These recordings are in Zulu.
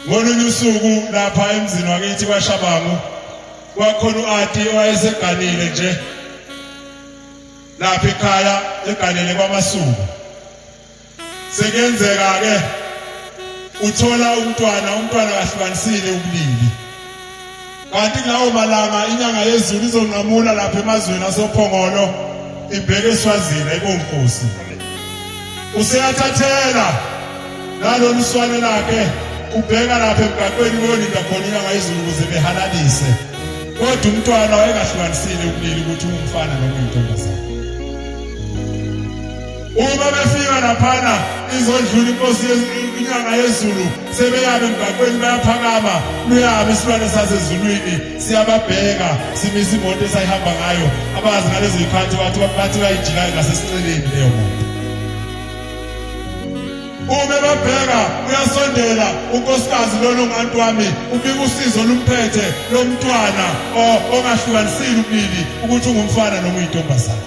ngolunye usuku lapha emzini wakithi kwashabangu kwakhona u-ati owayeseganile nje lapha ekhaya eganele kwamasuku sekuyenzeka-ke uthola umntwana umntwana kahlukanisile ubulili kanti kulawo malanga inyanga yezulu izonqamula lapha emazweni asophongolo ibheke eswazini ayibonkosi useyathathela nalolu swane lakhe ubheka lapha emgaqweni kuyolinda khona inyanga yezulu ukuze behalalise kodwa umntwana wayengahlukanisile ubulili ukuthi ungumfana noma uyintombazane uma befika laphana izodlula inkosi inyanga yezulu sebeyabe emgaqweni bayaphakama luyabe isilwane sasezulwini siyababheka simisa imoto esayihamba ngayo abazi ngalezo yikhathi bathi bathi bayijikayo ngasesinceleni leyo moto uma babheka uyasondela unkosikazi lona ungantu wami ubika usizo olumphethe lomntwana ongahlukanisile ubili ukuthi ungumfana noma uyintombazane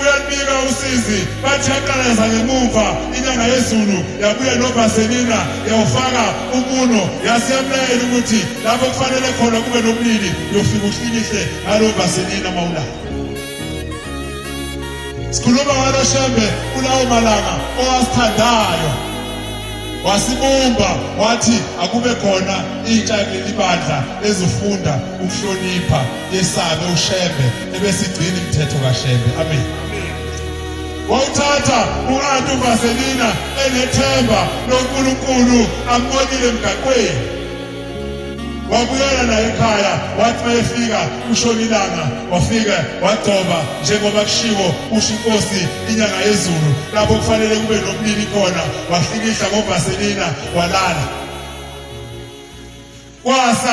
Uyalibika usizi bathi yaqalaza ngemuva inyanga yezulu yabuya novaselina yawufaka umuno yasiyamlayela ukuthi lapho kufanele khona kube nobulili yofika uhlikihle ngalo vaselina mawulala sikhuluma ngalo shembe kulawo malanga owasithandayo wasibumba wathi akube khona intsha lelibandla ezifunda ukuhlonipha yesabe uShembe ebesigcina imithetho kaShembe amen wawuthatha u-anti uvaselina enethemba lonkulunkulu ambonile emgaqweni wabuyela naye ekhaya wathi mayefika kushona ilanga wafika wagcoba njengoba kushiwo usho inkosi inyanga yezulu lapho kufanele kube nobulili khona wahlikihla ngovaselina walala kwasa